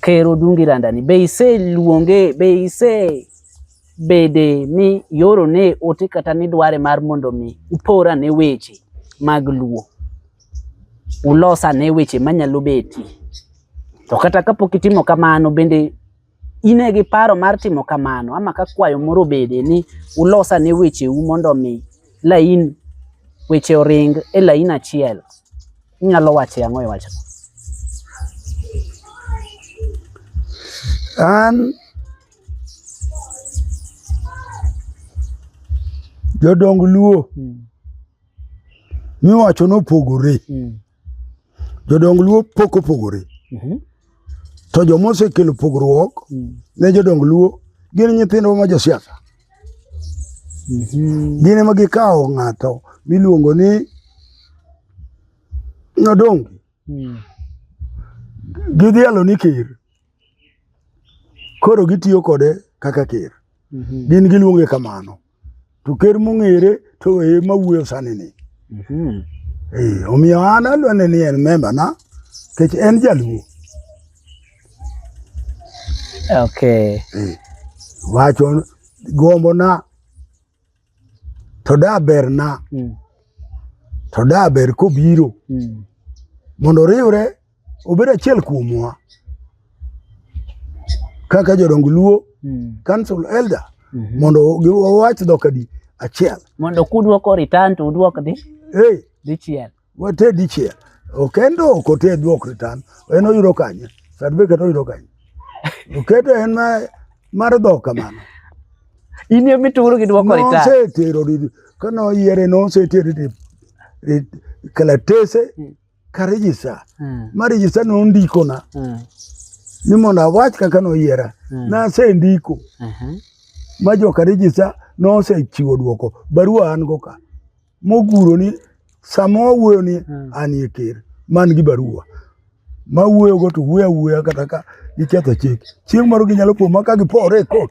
Ker Odungi Landani be iseluonge be ise bede ni yoro ne ote kata ni dware mar mondo mi upora ne weche mag luo ulosa ne weche manyalo beti to kata kapok itimo kamano bende ine gi paro mar timo kamano ama ka kwayo moro bede ni ulosa ne weche u mondo mi lain weche oring e lain achiel Inyalo wache ang'o e wachno? An jodong Luo hmm. miwacho nopogore. Hmm. Jodong Luo pok opogore. Mhm. To joma osekelo pogruok hmm. ne jodong Luo gin nyithindwa ma josiasa. Mhm. Gin ema gikawo ng'ato miluongo ni Nyodongi. Mm. Gidhialo ni ker. Koro gitiyo kode kaka ker. Mhm. Gin giluonge kamano. To ker mong'ere to e ma wuoyo sani ni. Mhm. Eh, omiyo an alwane ni en member na kech en jaluo. Okay. Eh, wacho gombona to da berna mm. to da ber kobiro mm. mondo oriwre obed achiel kuomwa kaka jodong luo mm. council elder mm -hmm. mondo wawach dhok adi achiel mondo kudwoko return to udwok dhi hey. dichiel Wate dichiel. Okendo ok ote duok return. En oyudo kanye? Certificate oyudo kanye? Oketo en ma mar dhok kamano. In emi turo gi duoko return. Nosetero di kana oyiere nosetero di kalatese hmm. ka register. Hmm. Ma register no ndikona. Hmm. Ni mondo awach kaka noyiera. Nasendiko. Uh-huh. Ma joka register nosechiwo duoko. Barua an go ka. moguro ni sama wawuoyo ni hmm. anie ker man gi barua ma wuoyogo to wuoyo awuoya kata ka giketho chik chieng' moro ginyalo kuoma ka gipore e kot